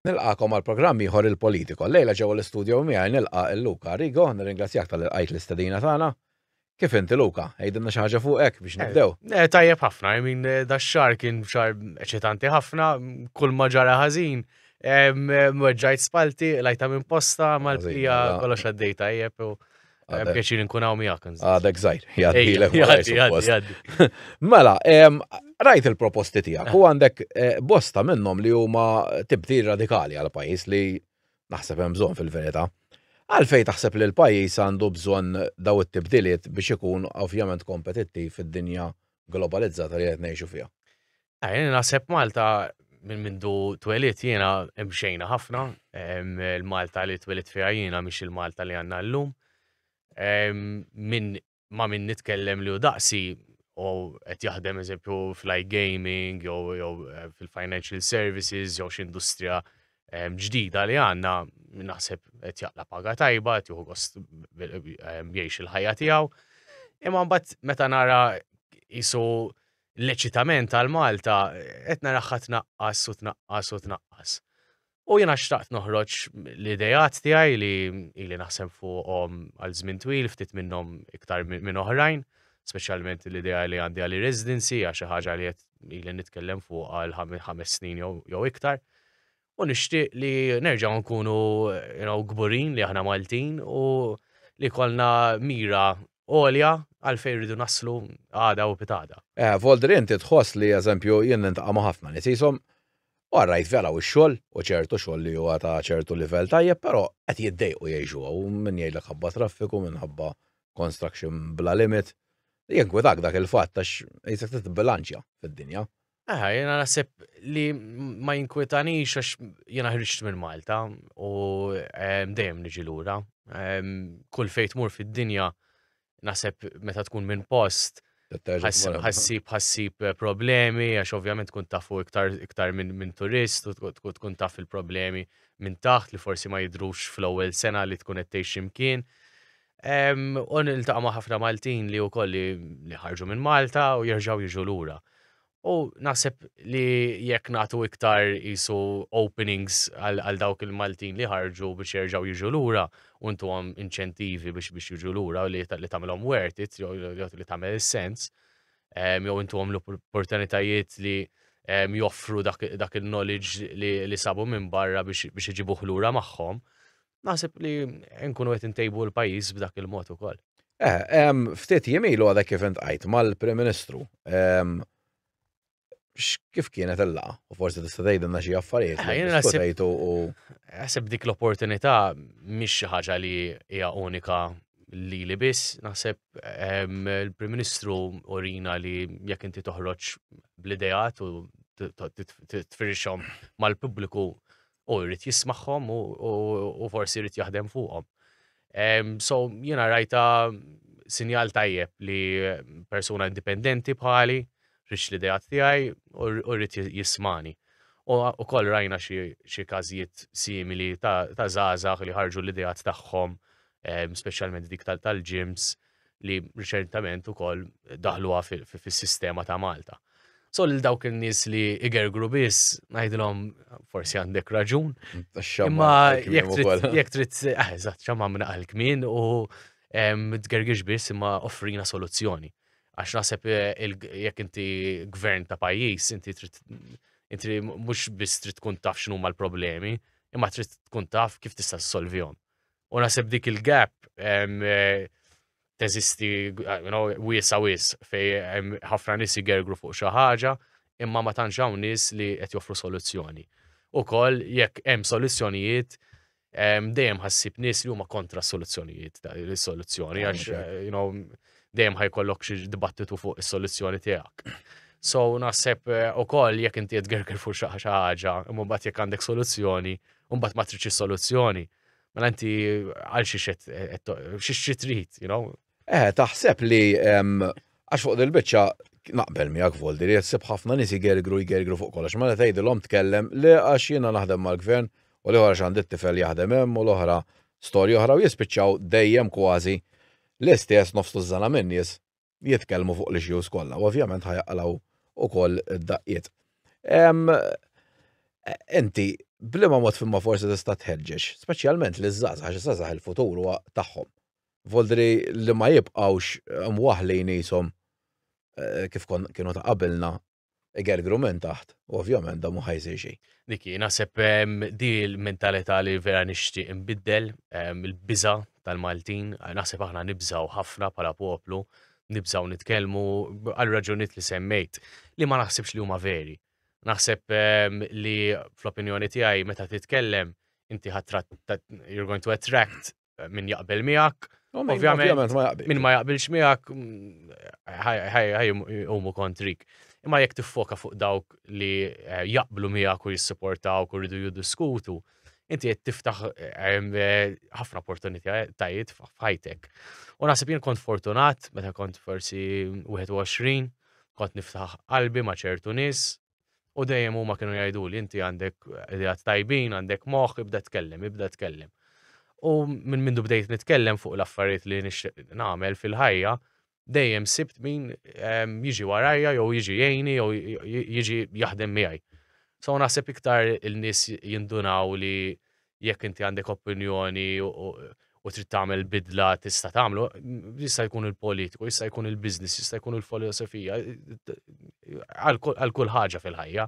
Nilqagħkom għal programm ieħor il-Politico. Llejla ġewwa l-istudjo miegħi nilqa' il Luca Rigo, nirringrazzjak tal-li lqajt l-istedina tagħna. Kif inti Luca? Għidilna xi ħaġa fuqek biex nibdew. Eh, eh, tajjeb ħafna, I mean, eh, da xar kien xar eċitanti ħafna, kull ma ġara ħażin. Mweġġajt spalti, lajta minn posta, mal-plija mela. kollox għaddej tajjeb. Eh, pjaċir nkun hawn miegħek. Għadek żgħir, jgħaddilek jgħaddi. Mela, rajt il-proposti tiegħek u għandek eh, bosta minnhom li huma tibdi radikali għal pajjiż li naħseb hemm bżonn fil-verità. Għalfej taħseb li l-pajjiż għandu bżonn daw it-tibdiliet biex ikun ovvjament kompetittiv fid-dinja globalizzata li qed ngħixu fiha. Ah, jena naħseb Malta minn mindu twelit jiena imxejna ħafna, il-Malta li twelit fiha jiena mhix il-Malta li għandna llum. Minn ma minn nitkellem li u daqsi u qed jaħdem eżempju fl-i gaming jew eh, fil-financial services jew x'industrija ġdida li għandna naħseb qed jaqla paga tajba, qed juhu gost jgħix il-ħajja tiegħu. Imma mbagħad meta nara isu l-eċitament għal Malta qed naraħħa tnaqqas u tnaqqas u tnaqqas. U jiena xtaqt noħroġ l-idejat tiegħi li ili naħseb fuqhom għal żmien twil ftit minnhom iktar minn oħrajn, speċjalment l-idea li għandi għal residency għax xi ħaġa li qed ili nitkellem fuq għal ħames snin jew iktar. u nixtieq li nerġgħu nkunu you know, gburin li aħna Maltin u li kollna mira għolja għalfejn rridu naslu għada u pitada. Eh, Voldri inti tħoss li eżempju jien nintaqa' ma' ħafna nies ishom u rajt vera u x-xogħol u ċertu xogħol li huwa ta' ċertu livell tajjeb, però qed jiddejqu jgħixu u min jgħidlek ħabba traffiku, minħabba construction bla limit. Jinkwitak dak il-fatt għax jisek titbilanċja fid-dinja. Aha, jena nasib li ma jinkwetanix għax jena ħriġt minn Malta u ehm, dejjem niġi lura. Ehm, kull fejt mur fid-dinja nasib meta tkun minn post ħassib ħassib eh, problemi għax ovvjament tkun tafu iktar iktar minn min turist u tkun taf il-problemi minn taħt li forsi ma jidrux fl-ewwel sena li tkun qed tgħix ximkien. U niltaqa' ma' ħafna Maltin li wkoll li ħarġu minn Malta u jerġgħu jiġu lura. U naħseb li jekk nagħtu iktar isu openings għal dawk il-Maltin li ħarġu biex jerġgħu jiġu lura u ntuhom inċentivi biex biex jiġu lura li tagħmilhom worth it, li tagħmel is-sens, jew intuhom l-opportunitajiet li joffru dak il-knowledge li sabu minn barra biex iġibuh lura magħhom. Naħseb li nkunu qed intejbu l-pajjiż b'dak il-mod ukoll. Eh, ftit jimilu għadha kif intqajt mal-Prim Ministru. Kif kienet il-laqa? U forsi tista' tgħidilna xi affarijiet eh, li diskutejtu u. Naħseb dik l-opportunità mhix xi ħaġa li hija unika li li biss, naħseb il-Prim Ministru urina li jekk inti toħroġ bl-idejat u titfirxhom mal-pubbliku u jrid jismagħhom u forsi jrid jaħdem fuqhom. So jiena rajta sinjal tajjeb li persuna indipendenti bħali rix li dejat tiegħi u rrid jismani. U koll rajna xi każijiet simili ta' żgħażagħ li ħarġu l-idejat tagħhom, speċjalment dik tal-ġims. Ta li riċentament ukoll daħluha fis-sistema ta' Malta. So lil dawk in-nies li igergru biss ngħidilhom forsi għandek raġun. Imma jekk trid ah, eżatt xamma minn għal kmin u tgergix biss imma offrina soluzzjoni. Għax naħseb eh, jekk inti gvern ta' pajjiż, inti trid inti mhux biss trid tkun taf x'numa l-problemi, imma trid tkun taf kif tista' ssolvihom. U nasib dik il-gap eh, teżisti wiesa wis fej ħafna nis jgergru fuq xi ħaġa imma ma tantx hawn nies li qed joffru soluzzjoni. Ukoll jekk hemm soluzzjonijiet dejjem ħassib nies li huma kontra soluzzjonijiet is-soluzzjoni għax eh, dejjem ħajkollok xi dibattitu fuq is-soluzzjoni tiegħek. So naħseb eh, ukoll jekk inti qed gerger fuq xi ħaġa, imma mbagħad jekk għandek soluzzjoni, mbagħad ma tridx is-soluzzjoni. Mela inti għal xi xi trid, you know? Eh, taħseb li għax fuq dil-biċċa naqbel miegħek voldi li jsib ħafna nies jgergru jgergru fuq kollox. Mela tgħidilhom tkellem li għax jiena naħdem mal-gvern u li għax għandi t-tifel jaħdem hemm u l-oħra storja oħra u jispiċċaw dejjem kważi l-istess nofs tużżana minn nies jitkellmu fuq l-issues kollha, u ovvjament ħajaqlaw ukoll id-daqqiet. Inti, blima mod fimma forsi tista' tħeġġeġ, speċjalment li żgħażagħ għax żgħażagħ il-futur huwa tagħhom. Voldri li ma jibqgħux mwaħlin qishom eh, kif kienu ta' qabilna Igergru minn taħt, u ovvjament da mhu ħa jsir xejn. Niki, naħseb di l-mentalità li vera nixtieq inbiddel, il-biża tal-Maltin, naħseb aħna nibżaw ħafna bħala poplu, nibżaw nitkellmu għal raġunijiet li semmejt li ma naħsibx li huma veri. Naħseb ehm, li fl-opinjoni tiegħi meta titkellem inti ħadd you're going to attract min jaqbel miegħek. Ovvjament ma jaqbel. Min ma jaqbilx miegħek mm, umu kontrik. Imma jekk tiffoka fuq dawk li eh, jaqblu miegħek u jissupportawk u rridu jiddiskutu, inti qed tiftaħ eh, ħafna opportunitajiet f'ħajtek. U naħseb jien kont fortunat meta kont forsi 21, kont niftaħ qalbi ma' ċertu nies, U dejjem huma kienu jgħiduli inti għandek ideat tajbin, għandek moħħ, ibda tkellem, ibda tkellem. U minn mindu bdejt nitkellem fuq l-affarijiet li nixtieq nagħmel fil-ħajja, dejjem sibt min ehm, jiġi warajja jew jiġi jgħini jew jiġi jaħdem miegħi. So naħseb iktar il-nies jindunaw li jekk inti għandek opinjoni u trid tagħmel bidla tista' tagħmlu, jista' jkun il-politiku, jista' jkun il-biznis, jista' jkun il-filosofija, għal kull ħaġa fil-ħajja.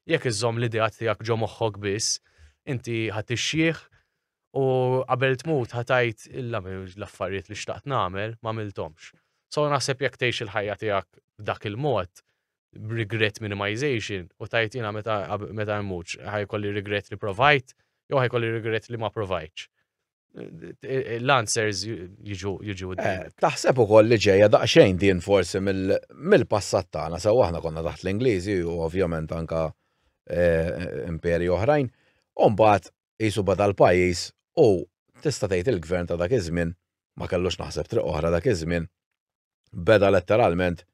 Jekk iżżomm l-idea tiegħek ġo moħħok biss, inti ħadd ixxieħ u qabel tmut ħatajt illa l-affarijiet li xtaqt nagħmel ma miltomx. So naħseb jekk tgħix il-ħajja tiegħek dak il-mod, regret minimization u tajt jina meta meta mmuċ ħajkolli regret li provajt jew ħajkolli regret li ma provajtx. L-answers jiġu jiġu eh, Taħseb ukoll li ġejja daqsxejn din forsi mill-passat tagħna sew aħna konna taħt l-Ingliżi u ovvjament anka eh, imperi oħrajn. Umbagħad qisu beda l-pajjiż u tista' tgħid il-Gvern ta' dak iż-żmien, ma kellux naħseb triq oħra dak iż-żmien, beda letteralment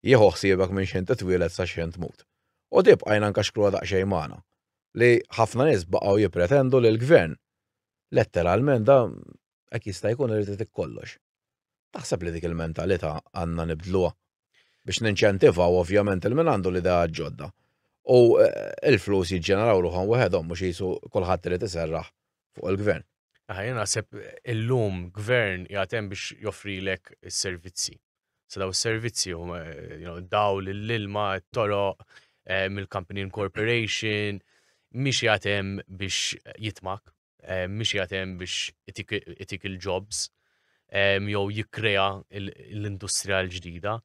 jieħu ħsiebek minn x'ħin titwieled sa x'ħin tmut. U di bqajna nkaxkruha daqsxejn magħna, li ħafna nies baqgħu jippretendu li l-Gvern letteralment da Hekk jista' jkun irid itik kollox. Taħseb li dik il-mentalità għandna nibdluha? Biex ninċentivaw ovvjament il min għandu l-idea ġodda. U eh, il-flus jiġġeneraw ruħhom weħedhom mhux jisu kulħadd irid iserraħ fuq il-gvern. Ħajja naħseb illum gvern jagħtem biex joffrilek is-servizzi. Sa daw is-servizzi huma eh, daw l-ilma, t-toroq, eh, mill-company incorporation, mhix jagħtem biex jitmak mhix qiegħed hemm biex itik il-jobs jew jikkrea l-industrija l-ġdida.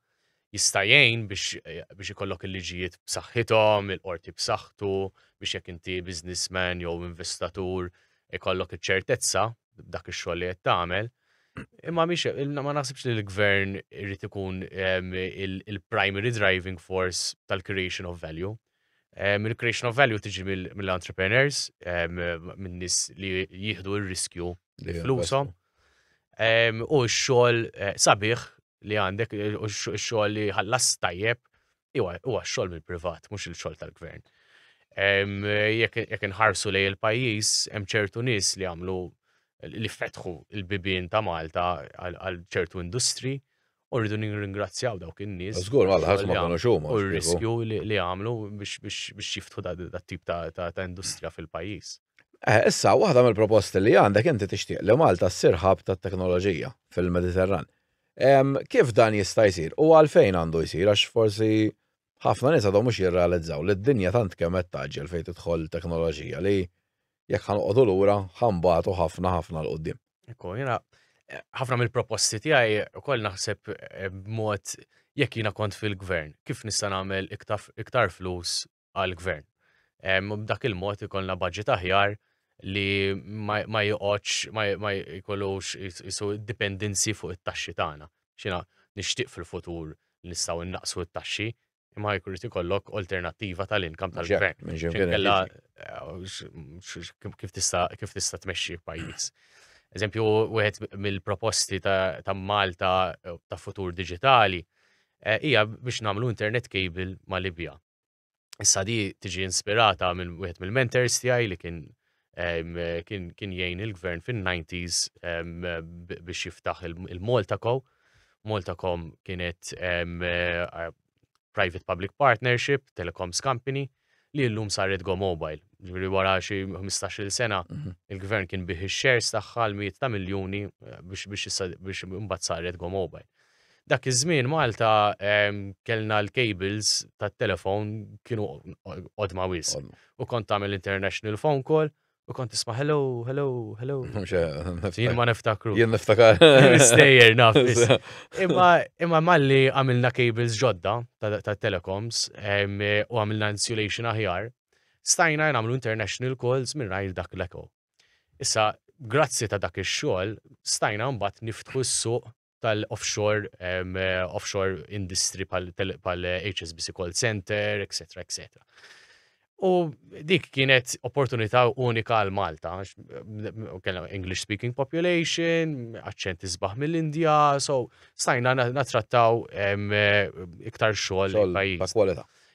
Jista' jgħin biex ikollok il-liġijiet b'saħħithom, il-qorti b'saħħtu, biex jekk inti businessman jew investatur ikollok iċ-ċertezza b'dak ix-xogħol li qed tagħmel. Imma mhix ma naħsibx li l-gvern irid ikun il-primary driving force tal-creation of value. Il-creation of value tiġi mill-entrepreneurs, minn nis li jihdu il-riskju li flusom. U xol eh, sabiħ li għandek, u xol li ħallas tajjeb, u xol mill-privat, mux il-xol tal-gvern. Jek nħarsu li il-pajis, hemm ċertu nis li għamlu li fetħu il-bibin ta' Malta għal ċertu industri, U rridu nirringrazzjaw dawk in-nies. Żgur, għal ħadd ma kienu xuma. U r-riskju li għamlu biex jiftħu dat tip ta' industrija fil-pajjiż. Eh, issa, waħda mill-proposti li għandek inti tixtieq li Malta ssir ħab tat-teknoloġija fil-Mediterran. Kif dan jista' jsir u għalfejn għandu jsir għax forsi ħafna nies għadhom mhux jirrealizzaw li d-dinja tant kemm qed taġġel fejn tidħol teknoloġija li jekk ħanqogħdu lura ħambatu ħafna ħafna l qudiem Ekku, jena, eh, ħafna mill-proposti tiegħi ukoll naħseb eh, b'mod jekk jiena kont fil-gvern, kif nista' nagħmel iktar flus għall-gvern. B'dak il-mod ikollna budget aħjar li ma joqgħodx ma jkollux isu dipendenzi fuq it-taxxi tagħna. Xina nixtieq fil-futur nistgħu innaqsu t-taxxi imma jkun ikollok alternattiva tal-inkam tal-gvern. Kif tista' kif tista' tmexxi pajjiż. Eżempju, wieħed mill-proposti ta' Malta ta' futur digitali eh, hija biex nagħmlu internet cable ma' Libja. Issa di tiġi inspirata minn wieħed mill-mentors tiegħi li kien kien kien jgħin il-gvern fin-90s biex jiftaħ il-Malta Co. Malta Co kienet private public partnership, telecoms company, li l-lum saret Go Mobile. Ġviri wara xi 15 sena, mhm. il-gvern kien bih il-shares tagħha l-miet ta' miljoni eh, biex imbagħad saret Go Mobile. Dak iż-żmien Malta kellna l-cables tat-telefon kienu qodma wis. U kont tagħmel international phone call u kont tisma' hello, hello, hello. Jien ma niftakru. Jien niftakar. Stejjer naf. Imma imma malli għamilna cables ġodda tat-telecoms u għamilna insulation aħjar, stajna nagħmlu international calls minn rajl dak l-eko. Issa, grazzi ta' dak ix-xogħol, stajna mbagħad niftħu s-suq tal-offshore, um, offshore industry pal-HSBC call center, etc. etc. U dik kienet opportunità unika għal Malta, kellna English speaking population, aċċent isbaħ mill-Indja, so stajna natrattaw iktar xogħol pajjiż.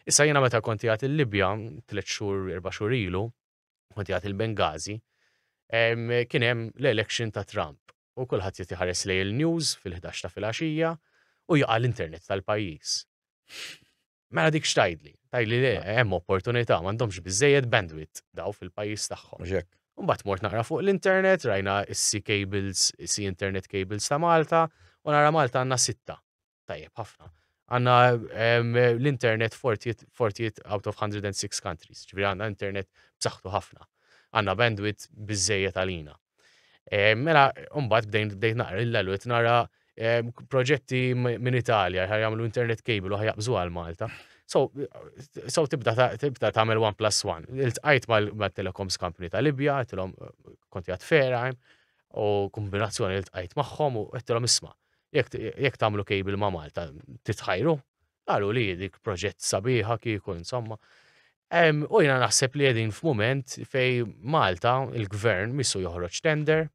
Issa jiena meta konti għat il-Libja, tliet xhur, erba' xhur ilu, kont jgħat il-Bengazi, kien hemm l-election ta' Trump. U kulħadd jagħti ħares lej il-news fil-11 ta' filgħaxija u jaqa' l-internet tal-pajjiż. Mela dik xtajdli, tajli le, hemm opportunità, m'għandhomx biżejjed bandwidth daw fil-pajjiż tagħhom. Mbagħad mort naqra fuq l-internet, rajna issi cables, issi internet cables ta' Malta, u nara Malta għandna sitta. Tajjeb, ħafna. Għanna l-internet fortijiet out of 106 countries, ġifri għanna internet b'saħħtu ħafna. Għanna bandwidth bizzejja tal-ina. Eh, mela, umbat bdejn bdejn naqra l-lalwet nara eh, proġetti minn Italja, ħaj jagħmlu internet cable u ħajabżu għal Malta. So, so tibda tibda tagħmel one plus one. Il-tqajt mal-telecoms company ta' Libja, tilhom eh, konti għat ferajm, u kombinazzjoni il-tqajt magħhom u għettilhom isma' jekk tagħmlu cable ma' Malta titħajru, qalu li dik proġett sabiħa kieku insomma. U jina naħseb li qegħdin f'mument fej Malta il-gvern missu joħroġ tender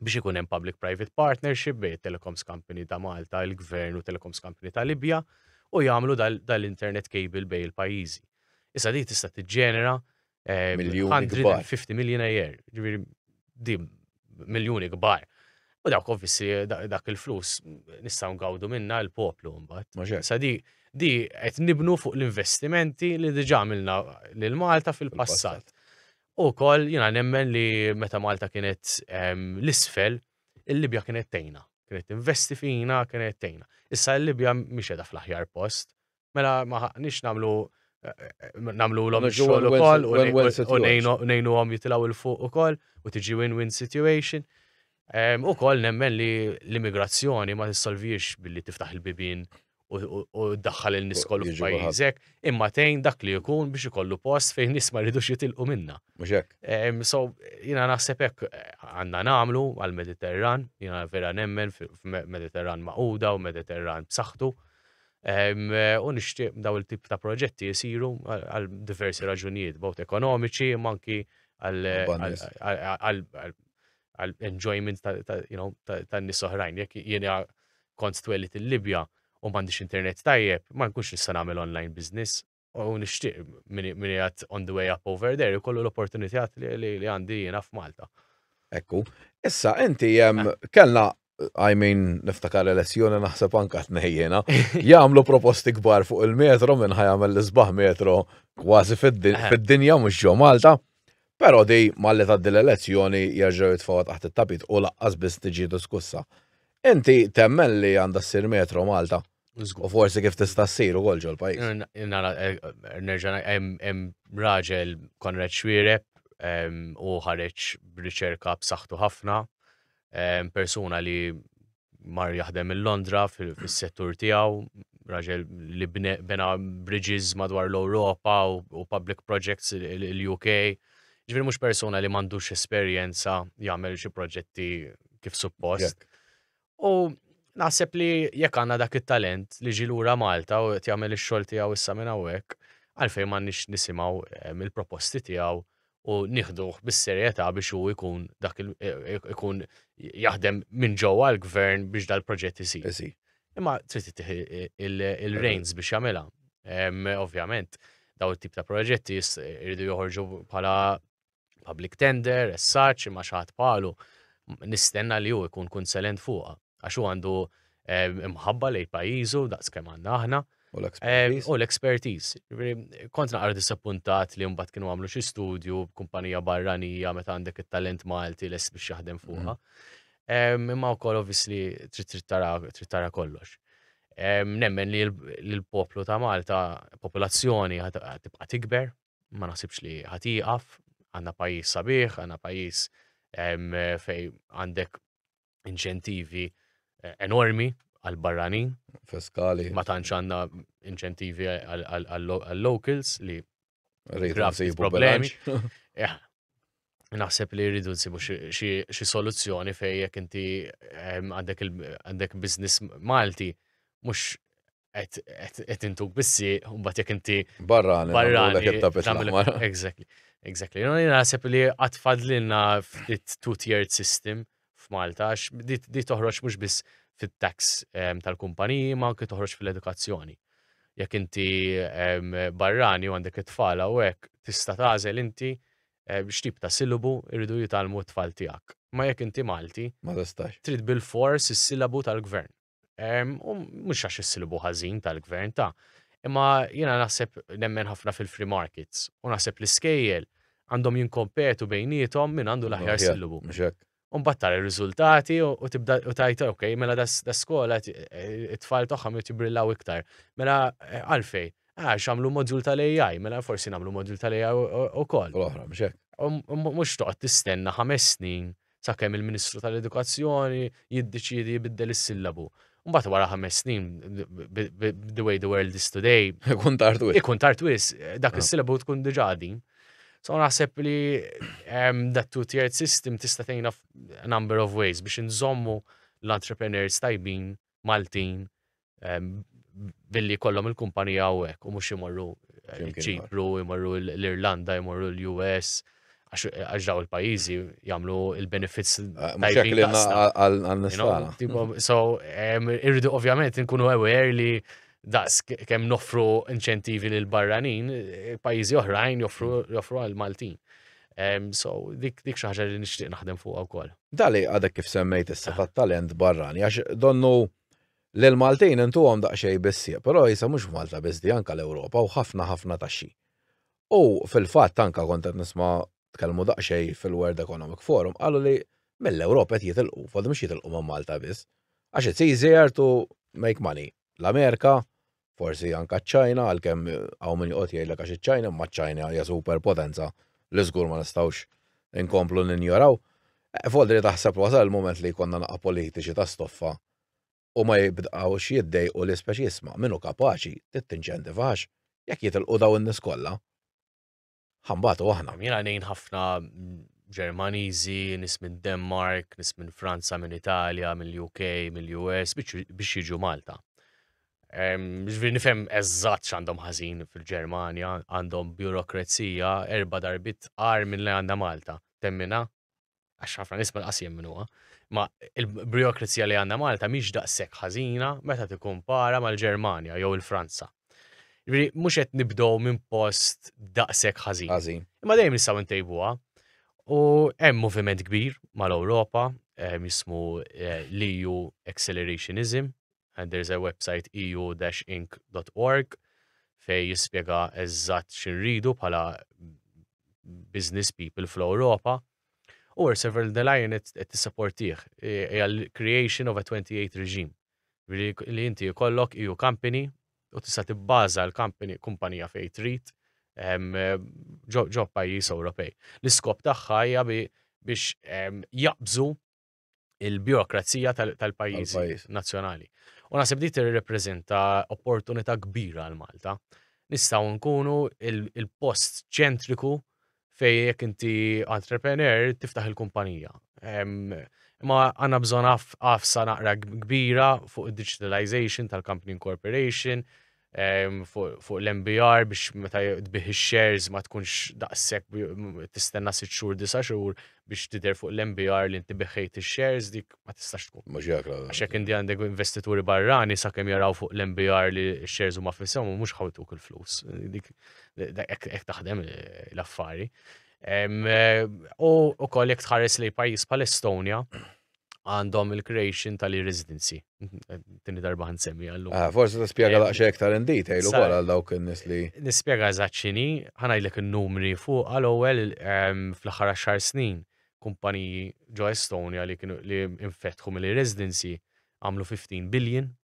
biex ikun hemm public private partnership bejn telecoms company ta' Malta, il-gvern u telecoms company ta' Libja u jagħmlu dal-internet cable bejn il-pajjiżi. Issa di tista' tiġġenera 150 million a year, ġviri di miljoni kbar. U dawk ovvissi dak il-flus nistaw ngawdu minna l-poplu mbagħad. Sa di di qed nibnu fuq l-investimenti li diġà għamilna lil Malta fil-passat. U kol jiena nemmen li meta Malta kienet l-isfel, il-Libja kienet tejna. Kienet investi fina, kienet tejna. Issa l-Libja mhix qiegħda fl-aħjar post, Mela ma ħaqniex namlu namlu l-om xogħol ukoll u nejnu għom jitilaw il-fuq ukoll u tiġi win-win situation. U koll nemmen li l-immigrazzjoni ma tissolviex billi tiftaħ il-bibin u daħħal il niskol f'pajjiżek, imma tejn dak li jkun biex ikollu post fejn nis ma rridux jitilqu minna. So, jina naħseb hekk għandna nagħmlu għal-Mediterran, jina vera nemmen f'Mediterran maquda u Mediterran b'saħħtu. U nixtieq daw il-tip ta' proġetti jisiru għal diversi raġunijiet, bot ekonomiċi, manki għal enjoyment ta' nis oħrajn. Jek jiena kont twellit il-Libja u m'għandix internet tajjeb, ma nkunx nista' nagħmel online business. u nixtieq min qiegħed on the way up over there ikollu l-opportunitijat li għandi jiena f'Malta. Ekku, issa inti eh. kellna I mean, niftakar elezzjoni naħseb anka tnejjena, jagħmlu proposti kbar fuq il-metro minn ħajamel l-isbaħ metro kważi fid-dinja mhux ġo Malta. Però di malli ta' l-elezzjoni jerġgħu jitfgħu taħt it-tapit u laqqas biss tiġi diskussa. Inti temmen li għandha ssir metro Malta? U forsi kif tista' ssir ukoll ġol pajjiż. Nara eh, eh, nerġa' hemm raġel Konrad Xwireb u ħareġ b'riċerka b'saħħtu ħafna persuna li mar jaħdem il-Londra fis-settur tiegħu, raġel li bena bridges madwar l-Europa u public projects l-UK. Ġviri mux persona li mandux esperienza jgħamil xie proġetti kif suppost. U naħseb li jekk għandna dak it-talent li ġi lura Malta u qed jagħmel ix-xogħol tiegħu issa minn hawnhekk, għalfejn m'għandniex nisimgħu eh, mill-proposti tiegħu u nieħduh bis-serjetà biex hu jkun dak eh, ikun jaħdem minn ġewwa l-gvern biex dal-proġett isir. Imma trid tittih il-reins biex jagħmilha. Ovvjament, daw it-tip ta' proġetti jridu joħorġu bħala public tender, essaċ, imma xaħat palu, nistenna li ju ikun kunselent fuqa, għax u għandu eh, imħabba lej pajizu, daqs kem għanna aħna. U l-expertise. Eh, Kont naqra disappuntat li mbagħad kienu għamlu xi studju kumpanija barranija meta għandek it-talent Malti les biex jaħdem fuqha. Mm. Imma wkoll obviously trid tara kollox. Nemmen li l-poplu ta' Malta, popolazzjoni tibqa' tikber, ma naħsibx li ħatiqaf, għandna pajjiż sabiħ, għandna pajjiż fej għandek inċentivi eh, enormi għal-barranin. Fiskali. Ma tantx għandna inċentivi għal-locals li Rejt problemi. naħseb li rridu nsibu xi soluzzjoni fej jekk inti ehm, għandek biznis Malti mhux qed intuk bissi u mbagħad jekk inti barrani barrani Exactly. Exactly. Naħseb li qatt fadlilna ftit two-tiered system f'Malta għax di toħroġ mhux biss fit-tax ehm, tal-kumpaniji ma anke toħroġ fil-edukazzjoni. Jekk inti ehm, barrani u għandek it-tfala u hekk tista' tagħżel inti x'tip ta' silabu jridu jitgħallmu t-tfal tiegħek. Imma jekk inti Malti, trid bilfors is-silabu tal-Gvern. U mhux għax is-silabu ħażin tal-Gvern, ta. Imma jiena naħseb nemmen ħafna fil-free markets u naħseb l-iskejjel għandhom jinkompetu bejniethom min għandu l-aħjar silabu. Umbat tara r-riżultati u tibda u tajt, ok, mela da skola eh, it-tfal tagħhom jrid jibrillaw iktar. Mela eh, għalfej, ah, xamlu modul tal-AI, mela forsi nagħmlu modul tal-AI ukoll. Oħra, mhux hekk. Um, um, mhux toqgħod tistenna ħames snin sakemm il-Ministru tal-Edukazzjoni jiddeċiedi jibiddel is-sillabu. Mbagħad wara ħames snin, the way the world is today. Ikun tartwis. Ikun tartwis, dak ah. is-silabu tkun diġà din. So naħseb li that two tiered system tista' tgħinna number of ways biex inżommu l-entrepreneurs tajbin Maltin billi kollom il-kumpanija u hekk u mhux imorru ċipru, imorru l-Irlanda, imorru l-US, għax daw il-pajizi jamlu il-benefits. Ah, mux jek li għal-nistana. So, irridu ovvjament nkunu aware li daqs kem nofru inċentivi l barranin pajizi oħrajn joffru għal-Maltin. So, dik dik xaħġa li nixtieq naħdem fuq wkoll. Dali għadek kif semmejt issa ah. talent barrani, għax donnu l-Maltin intu għom daqxej bissi, pero jisa mux Malta bizdi anka l-Europa u ħafna ħafna taxxi. U fil-fatt anke kont qed nisma' tkellmu daqsxejn fil-World Economic Forum qalu li mill-Ewropa qed jitilqu, f'għadhom mhux jitilqu minn Malta biss. Għax it's easier to make money. L-Amerika, forsi anke ċ-Ċina, għalkemm hawn min joqgħod jgħidlek għax iċ-Ċina, imma ċ-Ċina hija super potenza li żgur ma nistgħux inkomplu ninjoraw. F'Odri taħseb wasal il-mument li jkollna naqa' politiċi ta' stoffa u ma jibdqgħux jiddejqu li spex jisma' min hu kapaċi trid tinċentiva għax jekk jitilqu daw in-nies kollha ħa nbatu aħna. Jiena ngħin ħafna Ġermaniżi, nies minn Denmark, nies minn Franza, minn Italja, mill-UK, mill-US biex jiġu Malta. Ġviri nifhem eżatt x'għandhom ħażin fil-Ġermanja, għandhom burokrazija erba' darbit qar minn li għandha Malta. Temmina? għax ħafna nies ma laqas jemminuha, ma il-burokrazija li għandha Malta mhix daqshekk ħażina meta tikkumpara mal-Ġermanja jew il-Franza. Ġifieri mhux qed nibdew minn post daqshekk ħażin. Ħażin. Imma dejjem nistgħu ntejbuha. U hemm moviment kbir mal-Ewropa, eh, jismu eh, l-EU Accelerationism, and there is a website eu-inc.org fejn jispjega eżatt x'inridu bħala business people fl-Ewropa. U Ursula von der Leyen qed tissaportih hija l-creation of a 28 regime li inti jkollok EU company u tista' tibbaża l-company kumpanija fejn trid ġo pajjiż Ewropej. L-iskop tagħha hija biex jaqbżu il-birokrazija tal-pajjiż nazzjonali. U naħseb di tirrepreżenta opportunità kbira għal Malta. Nistgħu nkunu il-post ċentriku fej jekk inti entrepreneur tiftaħ il-kumpanija. Ma għanna bżon għafsa naqra kbira fuq il-digitalization tal-company incorporation, fuq l-MBR biex meta tbih ix-shares ma tkunx daqshekk tistenna sitt xhur disa' xhur biex tidher fuq l-MBR li inti biħejt ix-shares dik ma tistax tkun. Mhux jekk Għax hekk inti għandek investituri barrani sakemm jaraw fuq l-MBR li x-shares huma f'ishom u mhux ħawtuk il-flus. Dik hekk taħdem l-affari. U wkoll jekk tħares lejn pajjiż bħal Estonia, għandhom il-creation tal-residency. Tini darba għan semmi għallu. Ah, forse ta' spiega eh, laqxa iktar in detail u għal dawk n-nis li. Nispiega zaċċini, ħanajdlek il-numri fuq għal ewwel ehm, fl-ħara xar snin kumpaniji ġo Estonia li kienu li infetħu mill-residency għamlu 15 billion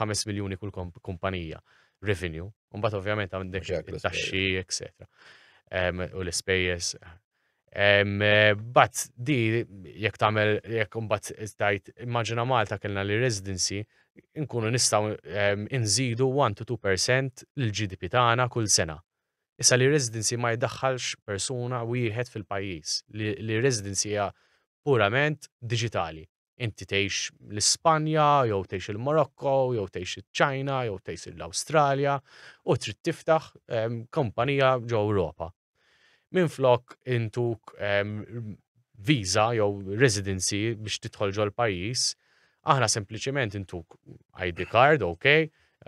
5 miljuni kull kumpanija revenue, mbagħad ovvjament għandek taxxi, etc. U l-ispejjeż. But di jekk tagħmel jekk mbagħad tajt immaġina Malta kellna li residency nkunu nistgħu nżidu 1 to 2% l-GDP tagħna kull sena. Issa li residency ma jdaħħalx persuna wieħed fil-pajjiż li residency hija purament diġitali. inti tgħix l-Ispanja jew tgħix il-Morokko jew tgħix iċ-Ċina jew tgħix l-Awstralja u trid tiftaħ kumpanija ġo Ewropa. Minflok intuk visa jew residency biex tidħol ġol pajjiż, aħna sempliċement intuk ID card, ok,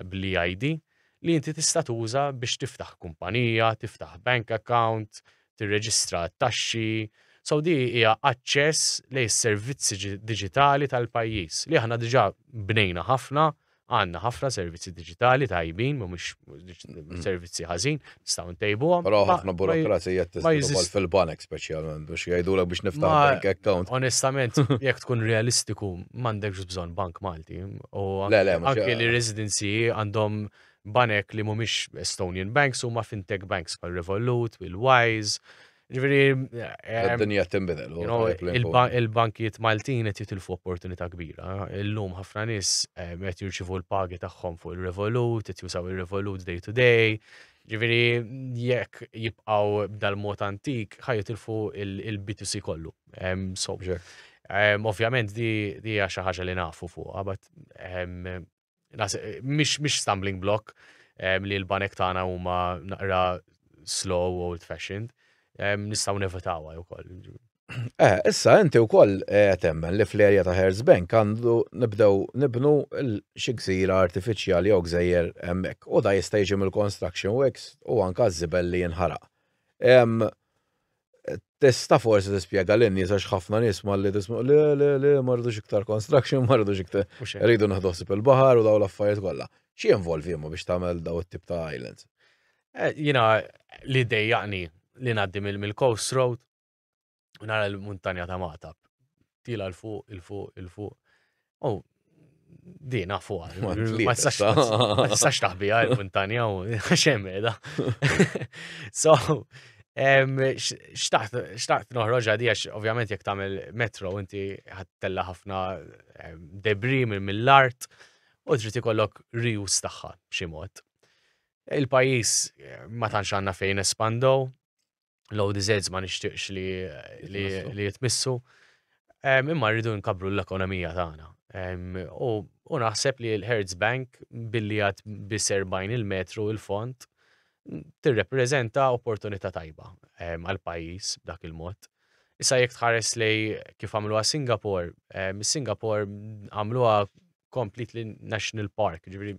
bli ID, li inti tista' tuża biex tiftaħ kumpanija, tiftaħ bank account, tirreġistra t-taxxi, so di hija aċċess lejn is-servizzi diġitali tal-pajjiż li aħna diġà bnejna ħafna, għandna ħafna servizzi diġitali tajbin, mhumiex mm. servizzi ħażin, nistgħu ntejbuhom. Però ħafna burokrazija tiżdidu fil-banek speċjalment biex jgħidulek biex niftaħ bank account. Onestament, jekk tkun realistiku, m'għandekx bżonn bank Malti. U anke li residenzi għandhom Banek li mhumiex Estonian banks huma fintech banks bħal Revolut, il-Wise, ġifieri. Id-dinja eh, tinbidel. Il-bankijiet Maltin qed jitilfu opportunità kbira. Illum ħafna nies eh, qed jirċivu l-pagi tagħhom fuq il-Revolut, qed jusaw il-Revolut day to day. Ġifieri jekk jibqgħu dal-mod antik ħaj jitilfu il-B2C kollu. Ovvjament di hija xi ħaġa li nafu fuqha, but Mhix stumbling block li l-banek tagħna huma naqra slow old fashioned, nistgħu nevitawha wkoll. Eh, issa inti wkoll eh, temmen li fl-erja ta' Herz Bank għandu nibdew nibnu xi gżira artifiċjali jew gżejjer hemmhekk u da jista' jiġi mill-construction works u anka żibel li jinħaraq. Tista' forsi tispjega lin-nies għax ħafna nies malli tisma' le le le ma rridux iktar construction, ma rridux iktar. Rridu nieħdu ħsieb il-baħar u dawn l-affarijiet kollha. Xi jinvolvi imma biex tagħmel dawn it-tip ta' islands? Eh, jiena li dejjaqni li ngħaddi mill-coast road u nara l-muntanja ta' Magħtab. tila l-fuq, il-fuq, il-fuq. U oh, di nafu għal. Ma tistax taħbi għal montanja u xem edha. So, xtaqt noħroġ għadi għax ovvjament jek tamel metro inti ħattella ħafna debri mill-art u trid ikollok rius tagħha b'xi mod. Il-pajjiż ma tantx għandna fejn espandow, l-ODZs ma nixtieqx li li jitmissu. Imma rridu nkabru l-ekonomija tagħna. U naħseb li l-Hertz Bank billi għad bis 40 il-metru il-font tirrepreżenta opportunità tajba għal-pajjiż b'dak il-mod. Issa jekk tħares li kif għamluha Singapore, Singapore għamluha completely national park, ġifieri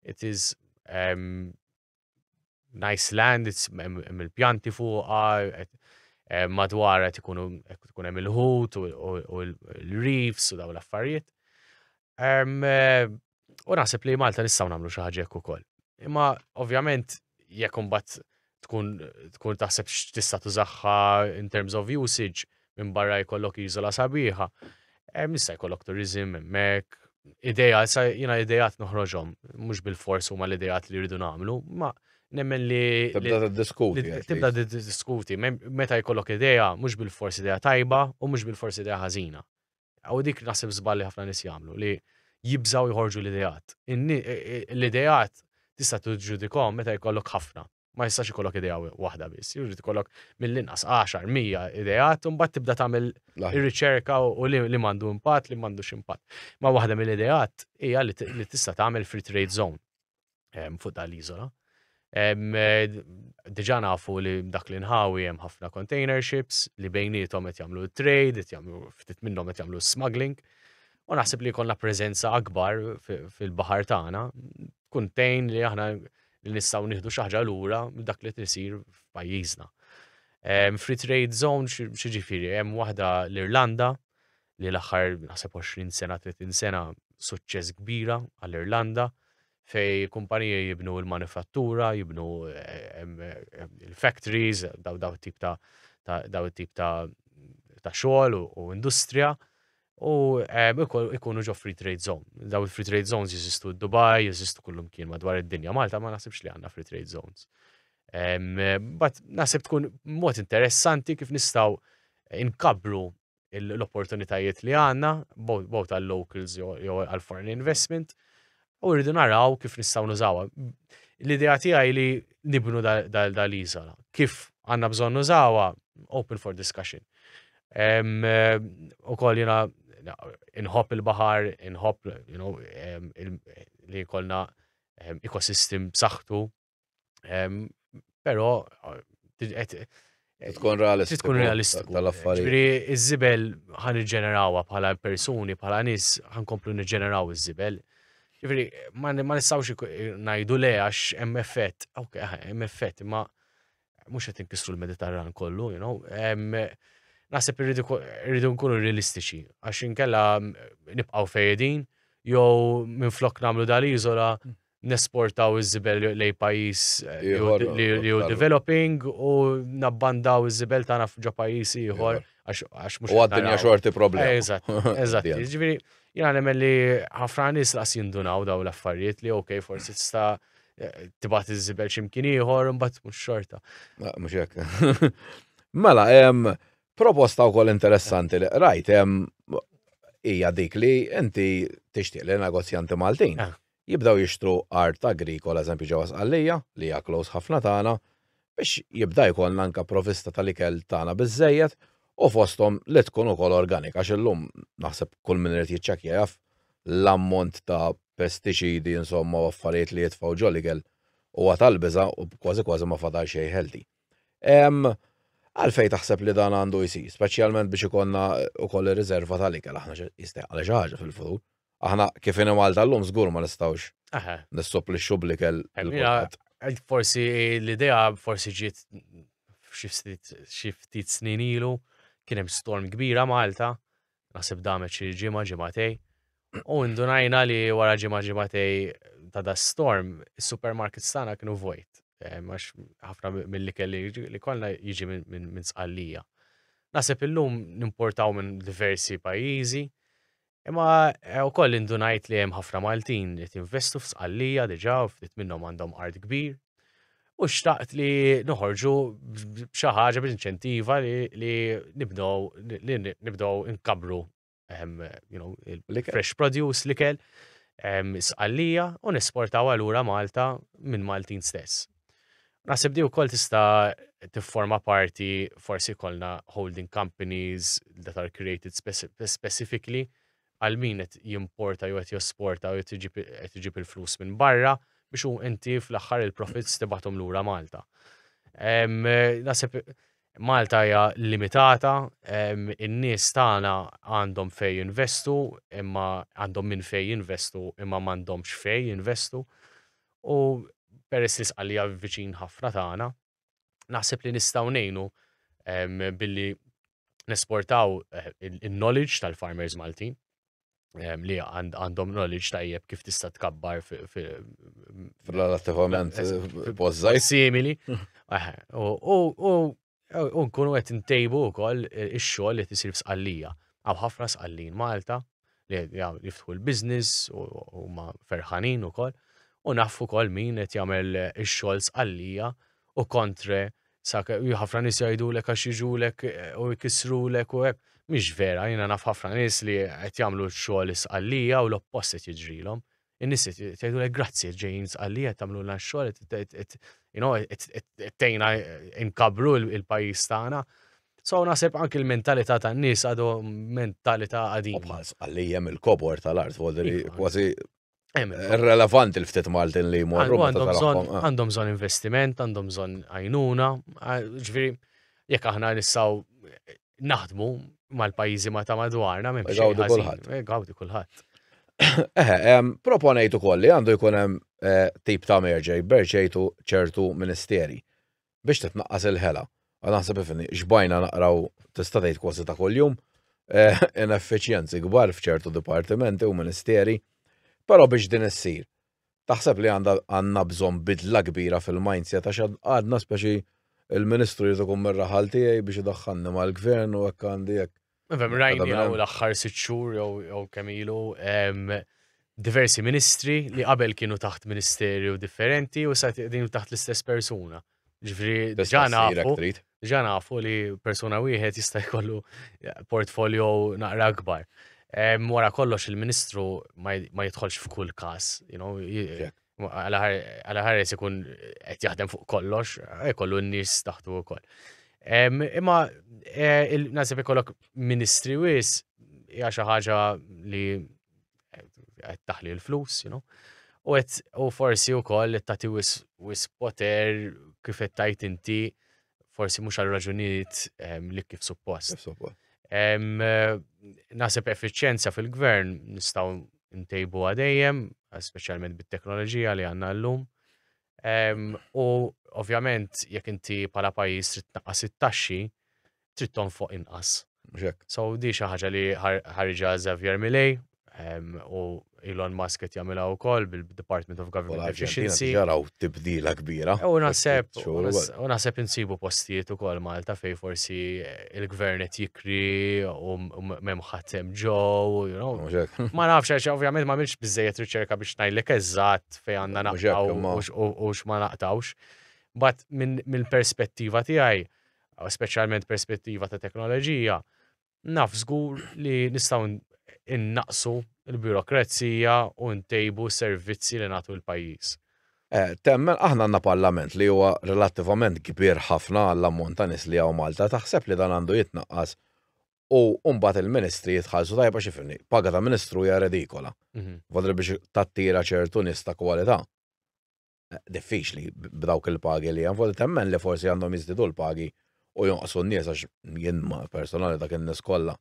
it is nice land, hemm il-pjanti fuqha, eh, madwar qed ikunu tkun hemm il-ħut u l-reefs u daw l-affarijiet. Eh, u naħseb li Malta nistgħu nagħmlu xi ħaġa hekk ukoll. Imma ovvjament jekk imbagħad tkun tkun taħseb x'tista' tużaħħa in terms of usage, minbarra jkollok iżola sabiħa, hemm issa jkollok turizm hemmhekk, ideja, issa jiena idejat noħroġhom, mhux bil-fors huma l-idejat li rridu nagħmlu, ma nemmen li. Tibda tiddiskuti. Tibda tiddiskuti, meta jkollok ideja, mhux bil-fors ideja tajba u mhux bil-fors ideja ħażina. U dik naħseb żballi ħafna nies jagħmlu li jibżaw jħorġu l-idejat. L-idejat tista' tiġġudikom meta jkollok ħafna. ma jistax ikollok idea waħda biss, jrid ikollok mill-inqas 10, 100 ideat, un bat tibda tagħmel ir-riċerka u li mandu impatt, li mandu ximpat. Ma waħda mill-ideat hija li tista' tagħmel free trade zone ehm, fuq dal-iżola. Ehm, Diġa nafu li dak li nħawi hemm ħafna container ships li bejnietom qed jagħmlu trade, qed jagħmlu ftit minnhom qed jagħmlu smuggling. U naħseb li jkollna preżenza akbar fil-baħar tagħna tkun tejn li aħna li nistgħu nieħdu xi ħaġa lura dak li tisir f'pajjiżna. Ehm, free trade zone xi ġifieri hemm waħda l-Irlanda li l-aħħar naħseb 20 sena 30 sena suċċess kbira għall-Irlanda fej kumpanija jibnu l-manifattura, jibnu ehm, ehm, il-factories, daw daw tip ta' daw tip ta' ta' xogħol u industrija u ikunu ġo free trade zone. Daw il-free trade zones jeżistu d-Dubai, jeżistu kullum kien madwar id-dinja. Malta ma nasibx li għandna free trade zones. Bat nasib tkun mod interessanti kif nistaw inkabru l-opportunitajiet li għanna, bow tal-locals jew għal-foreign investment, U rridu naraw kif nistgħu nużawha. L-idea tiegħi li nibnu dal-iżola. Kif għandna bżonn nużawha, open for discussion. U koll jena inħobb il-bahar, inħobb li jkollna ekosistem b'saħħtu. Però tkun realistiku. Tkun realistiku. Tal-affarijiet. Ġifieri iż-żibel ħan iġġenerawha bħala persuni, bħala nies ħan komplu niġġeneraw iż-żibel. Ġifieri ma nistgħux ngħidu le għax hemm effett. Ok, hemm effett, imma mhux qed inkissru l-Mediterran kollu, you know. Naħseb irridu nkunu realistiċi għax inkella nibqgħu fejedin jew minflok nagħmlu dal-iżola mm. nesportaw iż-żibel lejn pajjiż li hu developing u nabbandaw iż-żibel tagħna ġo pajjiż ieħor għax mhux. U għad-dinja xorti problema. Eżatt, eżatt. Ġifieri, jiena nemmen li ħafna nies laqas jindunaw daw l-affarijiet li ok, forsi tista' tibat iż-żibel x'imkien ieħor imbagħad mhux xorta. Mhux hekk. Mela, proposta wkoll interessanti li rajt hija dik li inti tixtieq li negozjanti Maltin ah. jibdew jixtru art agrikola eżempju ġewwa Sqallija, li hija close ħafna tagħna, biex jibda jkollna anke provista tal-ikel tagħna biżżejjed u fosthom li tkun ukoll organika għax illum naħseb kull min irid jiċċekkja jaf l-ammont ta' pestiċidi insomma u affarijiet li jitfgħu ġol-ikel huwa tal-biża' u kważi kważi ma fadal xejn healthy. Għalfejn taħseb li dan għandu jsir, speċjalment biex ikollna wkoll ir-riżerva tal-ikel aħna jistejqalha xi ħaġa fil-futur? Aħna kif inhi Malta llum żgur ma nistgħux nissopplixxu bl-ikel lil kulħadd. Forsi l-idea forsi ġiet xi ftit snin ilu kien hemm storm kbira Malta, naħseb damet xi ġimgħa ġimgħatej. U ndunajna li wara ġimgħa ġimgħatej ta' da storm, is-supermarkets tagħna kienu vojt. Eh, għax ħafna mill-li kelli li kollha jiġi minn sqallija. Naseb illum nimportaw minn diversi pajjiżi, Imma eh, ukoll indunajt li hemm ħafna Maltin li tinvestu f'sqallija diġà u ftit minnhom għandhom art kbir. U xtaqt li noħorġu b'xi ħaġa b'inċentiva li nibdow li nibdow inkabru ehm, fresh produce li kell ehm, sqallija u nesportaw għalura Malta minn Maltin stess. Naħseb di wkoll tista' tifforma parti forsi jkollna holding companies that are created specifically għal min qed jimporta jew qed josporta jew qed iġib il-flus minn barra biex u inti fl-aħħar il-profits tibgħathom lura Malta. Naħseb Malta hija limitata, in-nies tagħna għandhom fej jinvestu imma għandhom minn fej jinvestu imma m'għandhomx fej jinvestu. U peress li Sqallija viċin ħafna tagħna, naħseb li nistgħu ngħinu billi nesportaw eh, il-knowledge tal-farmers Maltin li għandhom knowledge tajjeb kif tista' tkabbar fil-relativament pożżaj. Simili. U U nkunu qed ntejbu wkoll ix-xogħol li qed isir f'Sqallija. Hawn ħafna Sqallin Malta li jiftħu l-business u huma ferħanin ukoll u naf ukoll min qed jagħmel ix-xogħol Sqallija u kontre sa ħafna nies jgħidulek għax jiġulek u jkissrulek u hekk. Mhix vera, jiena naf ħafna nies li qed jagħmlu x-xogħol Sqallija u l-oppost qed jiġrilhom. in-nies tgħidulek grazzi qed ġejjin sqalli qed tagħmlulna x-xogħol qed tgħinna nkabru l-pajjiż tagħna. So naħseb anki l-mentalità tan-nies għadu mentalità qadima. Bħal sqalli hemm il-kobor tal-art, iva. kważi Irrelevant il-ftit Maltin li jmorru. Għandhom bżon investiment, għandhom bżon għajnuna, ġviri, jek aħna nissaw naħdmu mal-pajjiżi ma ta' madwarna minn Gawdi kulħadd. Eh, gawdi kulħadd. Eħe, proponejt ukoll li għandu jkun hemm eh, tip ta' merġej berċejtu ċertu ministeri biex titnaqqas il-ħela. Għan naħseb ifni, xbajna naqraw tista' tgħid kważi ta' kuljum eh, ineffiċjenzi kbar f'ċertu dipartimenti u ministeri, però biex din issir Taħseb li għandha għandna bżonn bidla kbira fil-mindset għax għadna speċi il-Ministru jrid ikun mir-raħal tiegħi biex idaħħalni mal-Gvern u hekk għandi hekk. Nifhem rajni hawn l-aħħar sitt xhur jew kemm ilu diversi ministri li qabel kienu taħt ministerju differenti u sa qegħdin taħt l-istess persuna. Ġifri, ġanafu, ġanafu li persuna wieħed jista' jkollu eh, portfolio naqra akbar. Wara kollox il-ministru ma jidħolx f'kull każ, you know, għala ħares ikun qed jaħdem fuq kollox, jkollu n-nies taħtu wkoll. Imma eh, nasib ikollok ministri wis hija xi ħaġa li qed taħli l-flus, you know. U qed u forsi wkoll qed tagħti wis, wis poter kif qed tajt inti forsi mhux għal raġunijiet ehm, li kif suppost. Ehm, Nasib effiċjenza fil-gvern nistgħu ntejbu għadejjem, speċjalment bit-teknoloġija li għandna llum. U ovvjament jekk inti bħala pajjiż trid tnaqqas it-taxxi, trid tonfoq inqas. So di xi ħaġa li ħarġa Xavier Milei u Elon Musk qed jagħmilha wkoll bil-Department of Government Efficiency. Jaraw tibdila kbira. U naħseb u naħseb insibu postijiet ukoll Malta fej forsi il-gvern qed jikri u m'hemm ħadd hemm ġew, Ma nafx għax ovvjament ma għamilx biżejjed riċerka biex ngħidlek eżatt fej għanna naqtaw u x'ma naqtawx. Bat minn perspettiva tiegħi, speċjalment perspettiva ta' teknoloġija, naf żgur li nistgħu innaqsu l-birokrazija u ntejbu servizzi li nagħtu l-pajjiż. Eh, temmen, aħna għandna parlament li huwa relattivament kbir ħafna għall-ammont ta' nies li hawn Malta, taħseb li dan għandu jitnaqqas u mbagħad il-ministri jitħallsu tajjeb għax ifimni, paga ta' ministru hija redikola. Mhm. Fadri biex tattira ċertu nies ta' kwalità. Eh, diffiċli b'dawk il-pagi li hemm, fadri temmen li forsi għandhom jiżdidu l-pagi u jonqsu n-nies għax jien ma personali dak in-nies kollha.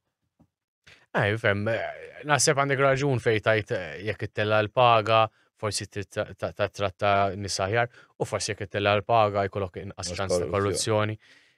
Ej, fem, eh, naħseb għandek raġun fej tajt eh, jekk ittella l-paga, forsi ta' tratta nisaħjar, u forsi jekk ittella l-paga jkollok inqas ċans ta' korruzzjoni.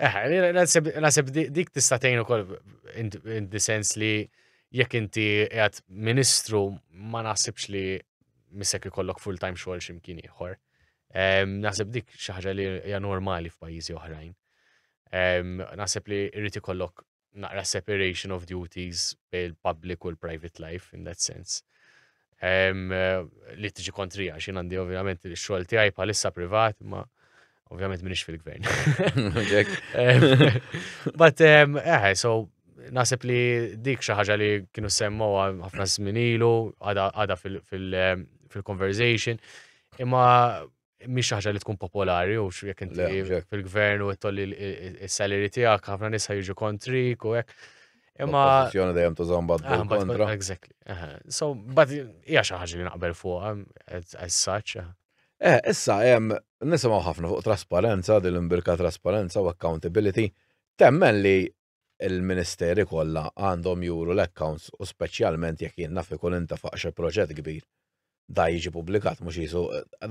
Eh, nasib dik tista' tgħin ukoll in the sens li jekk inti qiegħed ministru ma naħsibx li missek ikollok full-time xogħol x'imkien ieħor. Naħseb dik xi ħaġa li hija normali f'pajjiżi oħrajn. Naħseb li jrid ikollok naqra separation of duties bej il-public u l-private life in that sense. Um, li tiġi kontrija, xin għandi ovvjament il-xol tijaj palissa privat, ma ovvjament minix fil-gvern. But, um, eh, so, nasib li dik xaħġa li kienu semmu ħafna zminilu, għada fil-conversation, imma mhix ħaġa li tkun popolari u jekk inti fil-gvern u tolli s-salary tiegħek ħafna nisa jiġu kontrik u hekk. Imma. Kwestjoni dejjem tużhom bad ah, kontra. Exactly. So, but hija xi ħaġa li naqbel fuqha as such. Eh. eh, issa hemm nisimgħu ħafna fuq trasparenza, din l-imbirka trasparenza u accountability. Temmen li il-Ministeri kollha għandhom juru l-accounts u speċjalment jekk jien naf ikun intefaq xi proġett kbir da jiġi pubblikat mhux qisu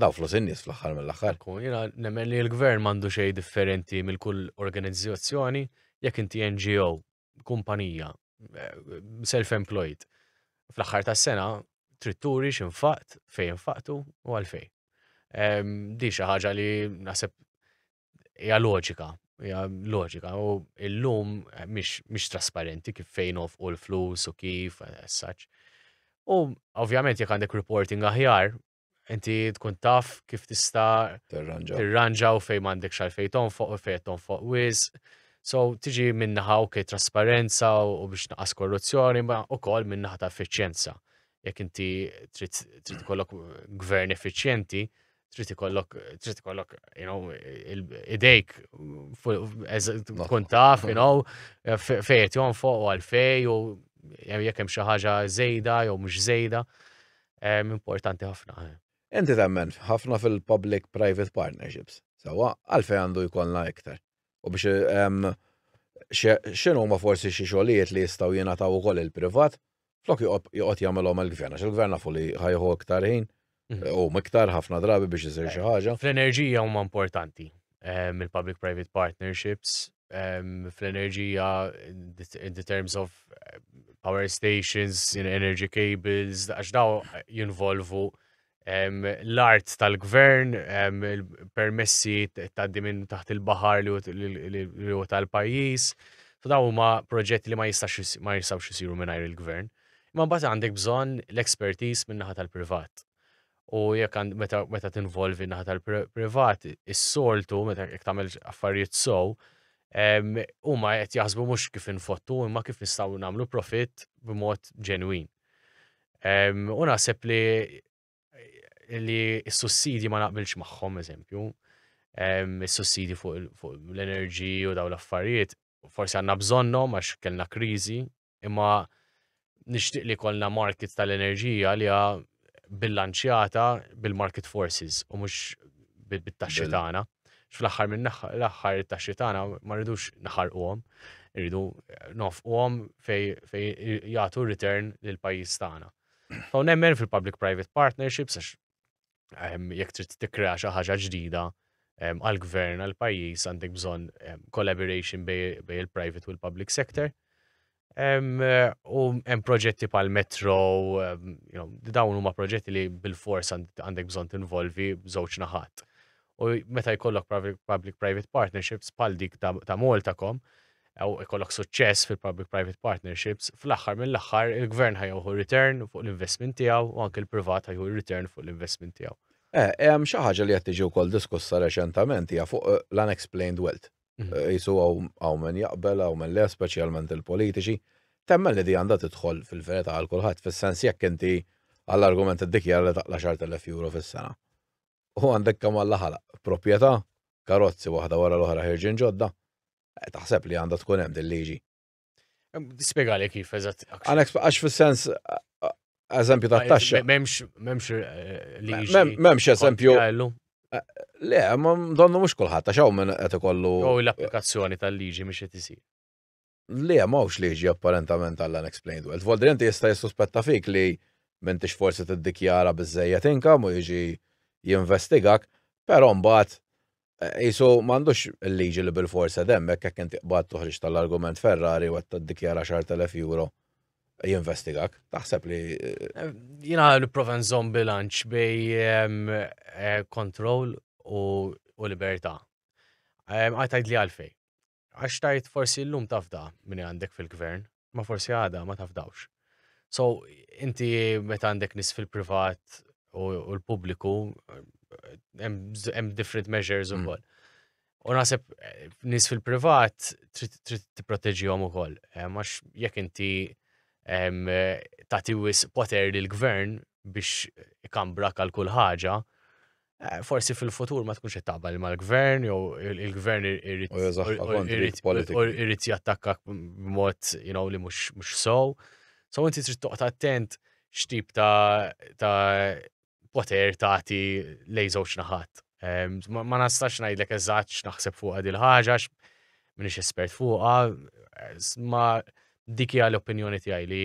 daw flus in-nies fl-aħħar mill-aħħar. Jiena nemmen li l-Gvern m'għandu xejn differenti mill kull organizzazzjoni jekk inti NGO, kumpanija, self-employed. Fl-aħħar tas-sena trid turi x'infaqt, fejn infaqtu u għalfejn. Ehm, di xi ħaġa li naħseb hija loġika, hija loġika u illum mhix trasparenti kif fejn u l-flus u kif as such. U ovvjament jekk għandek reporting aħjar, inti tkun taf kif tista' tirranġa u fejn m'għandek xalfej tonfoq u fejn tonfoq wiz. So tiġi minnaħa u kif trasparenza u biex naqas korruzzjoni, ma u kol minnaħa ta' effiċjenza. Jekk inti trid kollok gvern effiċjenti, trid ikollok trid ikollok you know idejk tkun taf you know fejn qed jonfoq u għalfej u jekk hemm xi ħaġa żejda jew mhux żejda. Importanti ħafna. Eh. Inti temmen ħafna fil-public private partnerships. Sawa, għalfej għandu jkollna iktar. U biex x'inhu ma forsi xi xogħlijiet li jistgħu jingħataw ukoll il-privat, flok joqgħod jagħmilhom il-gvern, għax il-gvern nafu li ħajħu iktar ħin, u miktar ħafna drabi biex isir xi ħaġa. Fl-enerġija huma importanti, il-public private partnerships, fl-enerġija in the terms of power stations, energy cables, għax daw jinvolvu l-art tal-gvern, il-permessi tgħaddi minn taħt il-baħar li u tal-pajjiż. So daw huma proġetti li ma jistax ma jistgħux isiru mingħajr il-gvern. Imma mbagħad għandek bżonn l-expertise minn naħa tal-privat. U jekk meta meta tinvolvi naħa tal-privat, is-soltu meta jekk tagħmel affarijiet sow, huma qed jaħsbu mhux kif infottu imma kif nistgħu nagħmlu profit b'mod ġenwin. U naħseb li li s-sussidji ma naqbilx magħhom, eżempju, s-sussidji fuq l-enerġi u daw l-affarijiet, forsi għandna bżonnhom għax kellna kriżi, imma nixtieq li kollna market tal-enerġija li bilanċjata bil-market forces u mhux bit-taxxi tagħna. Fl-aħħar minn l-aħħar it-taxxi tagħna ma rridux naħarquhom, irridu nofquhom fej jagħtu return lil pajjiż tagħna. Hawn nemmen fil-public-private partnerships għax ehm, jekk trid tikkrea xi ħaġa ġdida ehm, għall-gvern għall-pajjiż għandek bżonn ehm, collaboration bej il-private u l-public sector. U hemm proġetti pal metro dawn huma proġetti li bil-fors għandek bżonn tinvolvi żewġ naħat. U meta jkollok public-private partnerships pal dik ta' Maltacom, u jkollok suċċess fil-public-private partnerships, fl-aħħar mill-aħħar il-gvern ħajħu return fuq l-investment tiegħu u anke l-privat ħajħu return fuq l-investment tiegħu. Eh, hemm xi ħaġa li qed tiġi wkoll diskussa reċentament hija fuq l-unexplained wealth. Mhm. Jisu għaw men jaqbel, għaw men le, specialment il-politiċi. Temmen li di għanda tidħol fil-verita għal kulħadd, fil-sens jekk inti għall-argument id-dikjar li taqla xartellef euro fil-sena. U għandek kam għalla ħala, propieta, karozzi waħda wara l-oħra ħirġin ġodda, eh, taħseb li għanda tkun hemm dil-liġi. Spiega li kif, eżatt. Għax fil-sens, eżempju ta' taxxa. Memx, memx eh, li. Memx eżempju. Eh, le, ma donnu mux kullħat, għax għaw minn għet kollu. U l-applikazzjoni tal-liġi mux għet isir. Le, ma għawx liġi apparentament għall-unexplained wealth. Voldrenti jista jissuspetta fik li minn tix forsi t-dikjara bizzejet inkam u jiġi jinvestigak, pero mbaħt Isu m'għandux il-liġi li bil-forsa demmek jekk inti qbad toħriġ tal-argument Ferrari u qed tiddikjara 10,000 euro jinvestigak. Taħseb li. Eh, jina nipprova nżomm bilanċ bej eh, kontroll u libertà. Għajtajd li għalfej. Għax tajt forsi llum tafda minn għandek fil-gvern, ma forsi għada ma tafdawx. So, inti meta għandek nis fil-privat u l-pubbliku, hemm different measures mm. ukoll. U naħseb eh, nis fil-privat trid tipproteġihom ukoll. Eh, għax jekk inti tagħti wis poter lill gvern biex ikambra għal kull ħaġa, Eh, forsi fil-futur ma tkunx qed taqbel mal-gvern jew il-gvern irid jattakka b'mod you know li mhux mhux sow. So inti trid toqgħod attent x'tip ta' ta' poter tagħti lej żewġ naħat. Ma nastax ngħidlek eżatt x'naħseb fuq din ħaġa minix espert fuqha, ma dik hija l-opinjoni tiegħi li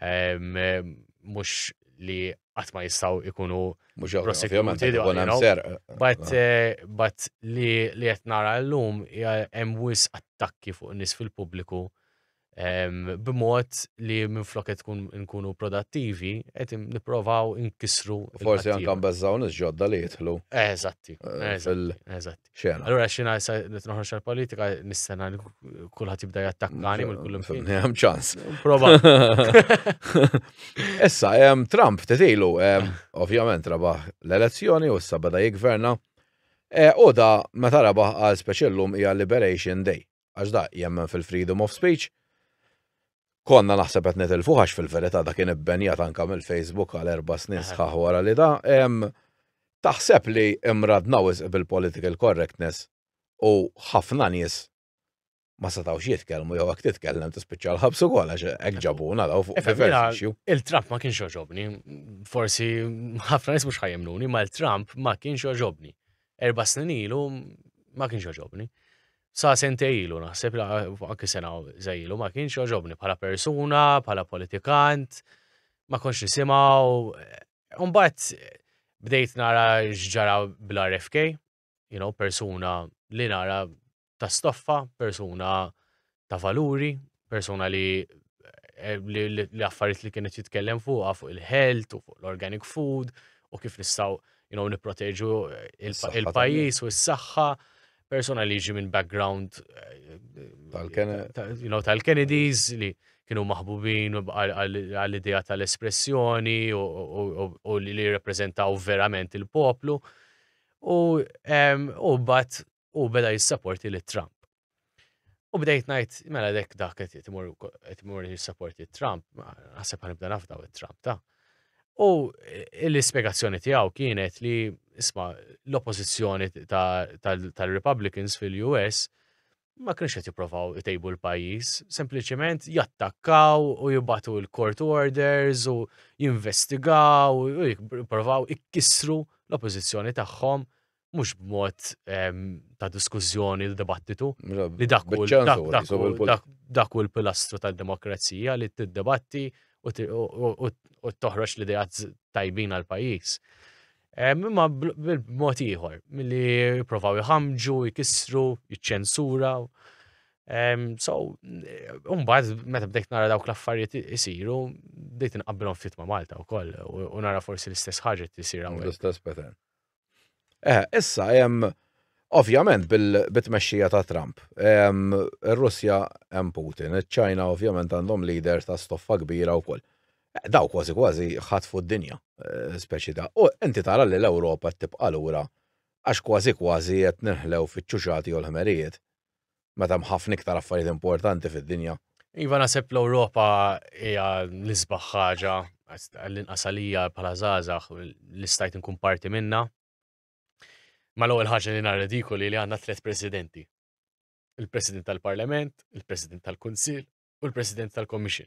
mhux li qatt ma jistgħu ikunu mhux prosekuti But eh, but li li qed nara llum hemm wis attakki fuq nies fil-pubbliku b'mod li minn flok qed tkun nkunu prodattivi qed nipprovaw inkisru. Forsi anke mbeżżaw nies ġodda li jidħlu. Eżatti, eh, eżatti. Xena. Allura xina issa li tnoħroġ għal-politika nistana li kulħadd jibda jattakkani mill kullum fin. Hemm ċans. Prova. Issa hemm Trump tetilu ovvjament rabaħ l-elezzjoni u issa beda jigverna. E, u da meta rabaħ għal speċellum hija Liberation Day. għax da jemmen fil-freedom of speech, konna naħseb qed nitilfu għax fil-verità da kien ibbenjat anka mill-Facebook għal erba' snin sħaħ wara li da. Taħseb li imradna wisq bil-political correctness u ħafna nies ma setgħux jitkellmu jew jekk titkellem tispiċċa l-ħabs ukoll għax hekk ġabuna daw fuq il-issue. Il-Trump ma kienx oġobni, forsi ħafna nies mhux ħajemnuni, ma l-Trump ma kienx oġobni. erba' snin ilu ma kienx għoġobni. Sa sente ilu naħseb li anki sena ilu ma kienx għoġobni bħala persuna, bħala politikant, ma konx nisimaw. Umbat bdejt nara xġara bl-RFK, you know, persuna li nara ta' stoffa, persuna ta' valuri, persuna li eh, li li affarijiet li kienet jitkellem fuqha fuq il-health u fuq l-organic food u kif nistgħu you know, nipproteġu eh, il- Is-saħħa il-pajjiż u s-saħħa, persuna li jiġi minn background eh, Tal-Kene- ta- you know, tal-Kennedys li kienu maħbubin għal- għal- għall-idea tal-espressjoni u, u, u, u li li jirrepreżentaw verament il-poplu. U, em, u bat u beda jissaporti li Trump. U bdejt najt, mela dek dak qed jtimur jissaporti Trump, għasib għan ibda nafdaw it-Trump ta' U eh, l-ispiegazzjoni tiegħu kienet li isma l-oppożizzjoni tal-Republicans fil-US ma kienx qed jipprovaw itejbu l-pajjiż, sempliċement jattakkaw u jibatu l-court orders u jinvestigaw u jipprovaw ikkissru l-oppożizzjoni tagħhom mhux b'mod ehm, ta' diskussjoni l dibattitu li dak dak u l-pilastru tal-demokrazija li t-debatti u toħroġ l-idea tajbin għal pajjiż. Ehm, imma b'mod ieħor, milli jipprovaw iħamġu, jkissru, jiċċensura, So, umbad, meta bdejt nara dawk l-affarijiet isiru, bdejt nqabbilhom fit ma' Malta wkoll u nara forsi l-istess ħaġa tisir hawn. L-istess pattern. Eh, issa, hemm ovvjament bil-tmexxija ta' Trump. Ir-Russja hemm Putin, iċ-Ċina ovvjament għandhom leader ta' stoffa kbira wkoll. Eh, daw kważi kważi ħatfu d-dinja, eh, speċi ta' u inti tara li l-Ewropa tibqa' lura għax kważi kważi qed ninħlew fiċ-ċuċati u l-ħmerijiet. meta hemm ħafna iktar affarijiet importanti fid-dinja. Iva naħseb l-Ewropa hija l-isbaħ ħaġa għall-inqas għalija bħala żgħażagħ li stajt inkun parti minna. Ma l-ewwel ħaġa li nhar ridikoli li għandna tliet presidenti. Il-President tal-Parlament, il-President tal-Kunsill u l-President tal-Commission.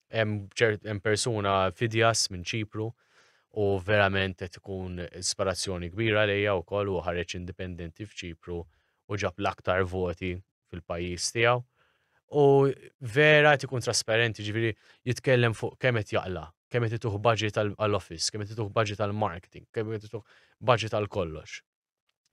hemm persuna fidjas minn Ċipru u verament qed ikun ispirazzjoni kbira lejja wkoll u ħareġ indipendenti f'Ċipru u ġab l-aktar voti fil-pajjiż tiegħu. U vera qed ikun trasparenti ġifieri jitkellem fuq kemm qed jaqla, kemm qed ituh budget għall-office, kemm qed ituh budget għall-marketing, kemm qed ituh budget għal kollox.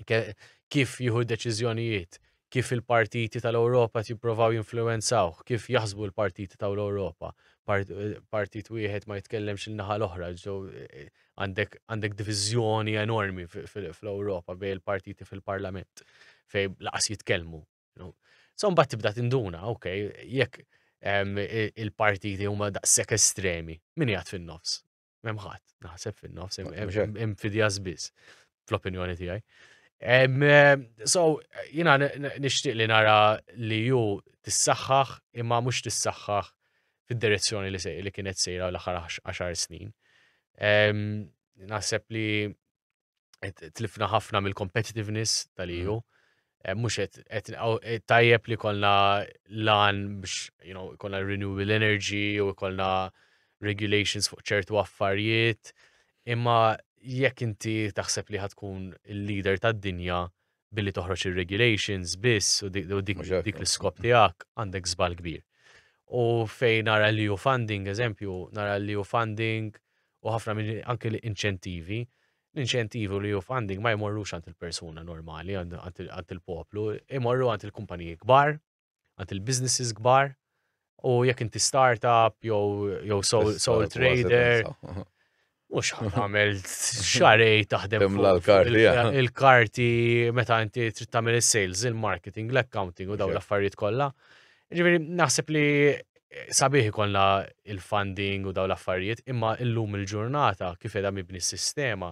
kif jieħu deċiżjonijiet, kif il-partiti tal-Ewropa jipprovaw jinfluwenzawh, kif jaħsbu l-partiti tal-Ewropa. Partit wieħed ma jitkellemx il-naħa l-oħra, eh, għandek diviżjoni enormi fl-Ewropa bej il-partiti fil-parlament fej laqas jitkellmu. So mbagħad tibda tinduna, ok, jekk il-partiti huma daqshekk estremi, min jgħid fin-nofs? Hemm ħadd, naħseb fin-nofs, hemm fidja biss, fl-opinjoni tiegħi. So, jina nixtieq li nara li ju tissaħħaħ imma mhux tissaħħaħ fid-direzzjoni li sej li kienet sejra l-aħħar 10 snin. Naħseb li tlifna ħafna mill-competitiveness tal-EU. Mm. Eh, mux et eh, tajjeb li kolna lan biex, you know, kolna renewable energy u kolna regulations fuq ċertu affarijiet. Imma jekk inti taħseb li ħatkun il-leader tad-dinja, billi toħroġ ir-regulations biss u dik l-iskop tiegħek għandek żball kbir. U fejn nara li u funding, eżempju, nara li u funding u ħafna minn anke l-inċentivi, l-inċentivi li u funding ma jmorrux għand il-persuna normali, għand il-poplu, imorru għand il-kumpaniji kbar, għand il-businesses kbar, u jekk inti startup jew sole trader, mhux għamel xarej taħdem il-karti meta inti trid tagħmel is-sales, il-marketing, l-accounting u dawn l-affarijiet kollha. Ġifieri naħseb li sabiħ ikollna il-funding u daw l-affarijiet, imma illum il-ġurnata kif edha mibni s-sistema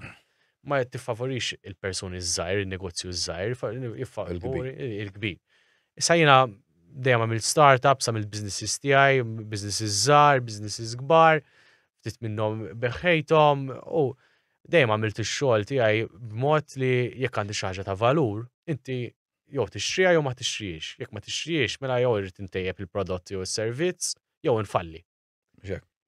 ma tiffavorix il-persuni zzajr, il-negozju zzajr, il-kbir. Issa jiena dejjem għamilt startups, għamilt businesses tiegħi, businesses żgħar, businesses kbar, ftit minnhom beħħejthom u dejjem għamilt ix-xogħol tiegħi b'mod li jekk għandi xi ħaġa ta' valur, inti jew tixtriha jew ma tixtrihiex. Jekk ma tixtrihiex, mela jew irrid intejjeb il-prodott jew is-servizz jew infalli.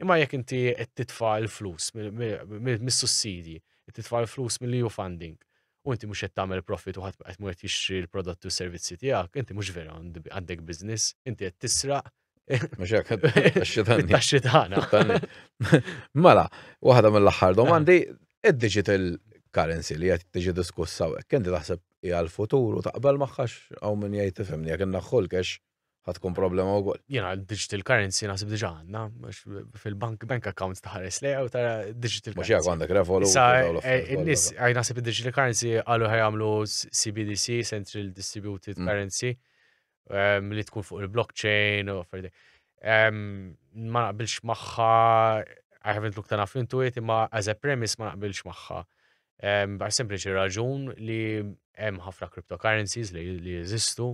Imma jekk inti qed titfa' l-flus mis-sussidji, qed titfa' l-flus mill-EU funding, u inti mhux qed tagħmel profit u ħadd qed mhux qed jixtri l-prodotti u s-servizzi tiegħek, inti mhux vera għandek business, inti qed tisraq. Mhux hekk taxxi tagħna. Mela, waħda mill-aħħar domandi, id-digital currency li qed tiġi diskussa hekk, inti taħseb hija l-futur u taqbel magħha hawn min jgħid tifhimni jekk innaħħu l-cash ħad tkun problema wkoll. Jiena digital currency naħseb diġà għandna, fil-bank bank account taħares li u tara digital currency. Mhux għandek revolu. Eh, in-nies għaj naħseb digital currency qalu ħajamlu CBDC, Central Distributed mm. Currency, ehm, li tkun fuq il-blockchain u ferdi. Ehm, ma naqbilx magħha I haven't looked enough into it, imma as a premise ma naqbilx magħha. Għal sempliċi raġun li hemm ħafna cryptocurrencies li jeżistu,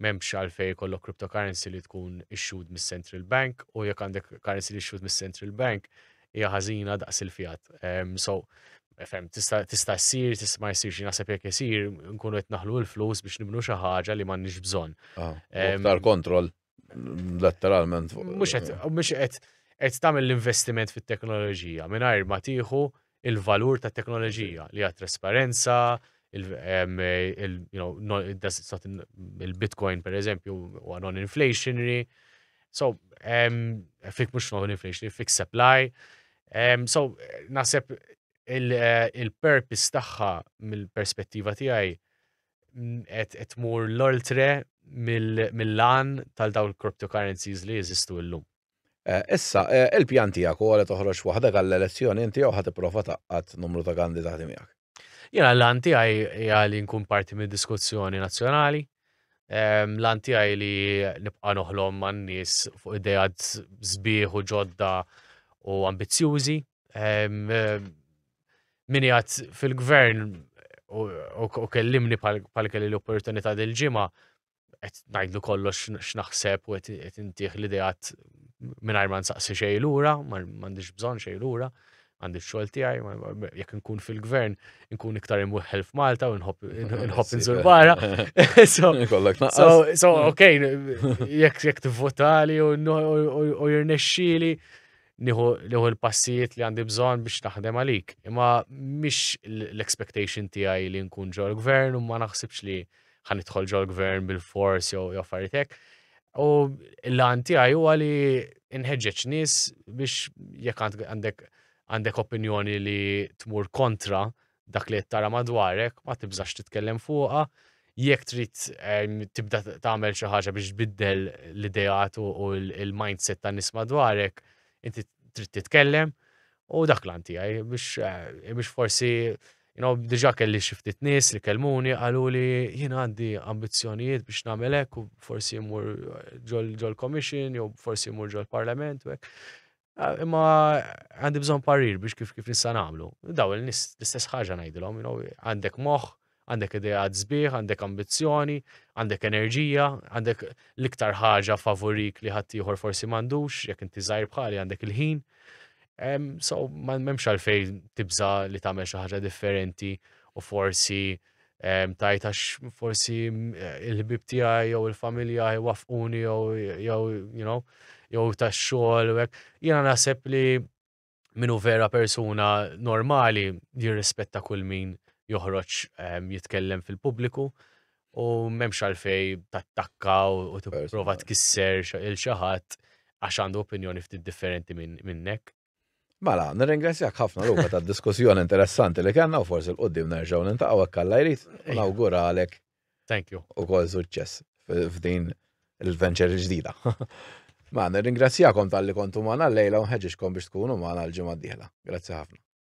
m'hemmx għalfej kollok cryptocurrency li tkun issued mis-central bank u jekk għandek currency li issued mis-central bank hija ħażina daqs il-fiat. So, fem, tista' tista' ssir, tista' ma jsirx naħseb jekk isir, nkunu qed naħlu l-flus biex nibnu xi ħaġa li m'għandniex bżonn. Aktar kontroll. Letteralment. Mhux qed mhux qed qed tagħmel l-investiment fit-teknoloġija mingħajr ma tieħu il-valur ta' teknoloġija li għat trasparenza, il-Bitcoin per eżempju u non-inflationary, so fik mux non-inflationary, fik supply, so nasib il-purpose tagħha mill-perspettiva tiegħi qed tmur l-oltre mill-lan tal-daw il-cryptocurrencies li jeżistu llum. Eh, issa, eh, il-pjan tiegħek u għalet toħroġ waħda għall-elezzjoni inti jew ħad ipprova taqqat numru ta' kandidati miegħek. Jena l-għan tiegħi hija li nkun parti mid-diskussjoni nazzjonali. Ehm, l-għan tiegħi li nibqa' noħlom man-nies fuq idejat sbieħ u ġodda u ambizzjużi min jgħat fil-gvern u kellimni pal kelli l-opportunità dil-ġimgħa qed ngħidlu kollox x'naħseb u qed intih l-ideat mingħajr ma nsaqsi xejn lura, m'għandix bżonn xejn lura, għandi xogħol tiegħi, jekk nkun fil-gvern, nkun iktar imweħħel f'Malta u nħobb nżur barra. So, ok, jekk tivvotali u jirnexxili, nieħu l-passijiet li għandi bżonn biex naħdem għalik. Imma mhix l-expectation tiegħi li nkun ġol gvern u ma naħsibx li ħanidħol ġol gvern bil-fors jew affarijiet hekk. U l-għan tiegħi huwa li nħeġġeġ nies biex jekk għandek għandek opinjoni li tmur kontra dak li qed tara madwarek, ma tibżax titkellem fuqha. Jekk trid ehm, tibda tagħmel xi ħaġa biex tbiddel l-ideat u l-mindset ta' nies madwarek, inti trid titkellem u dak l tiegħi biex eh, biex forsi you know, diġa kelli xiftit nis li kelmuni għalu li jien għandi ambizjonijiet biex namelek u forsi jmur ġol commission jew forsi jmur ġol parlament u Ah, imma għandi bżon parir biex kif kif nista' nagħmlu. Daw il-nis l-istess ħaġa ngħidilhom, għandek moħħ, għandek idea sbieħ, għandek ambizzjoni, għandek enerġija, għandek l-iktar ħaġa favorik li ħadd ieħor forsi m'għandux, jekk inti żgħir bħali għandek il-ħin. So, ma memx għalfej tibża li tagħmel xi ħaġa differenti u forsi tajt għax forsi eh, il-ħbib tiegħi jew il-familja jwaffquni jew jew you know jew tax-xogħol u hekk. Jiena naħseb li minu vera persuna normali jirrispetta kull min joħroġ jitkellem fil-pubbliku u memx għalfej tattakka u t-prova tkisser il-xaħat għax għandu opinjoni ftit differenti minnek. Mela, nirringrazzjak ħafna l ta' diskussjoni interessanti li kellna u forsi l-qoddim nerġgħu nintaqgħu hekk alla jrid u nawguralek. Thank you. U kol suċċess f'din il-venture il-ġdida. Ma, nirringrazzjakom tal-li kontu maħna l-lejla unħeġiġkom biex tkunu maħna l-ġimma d-dihla. Grazzi ħafna.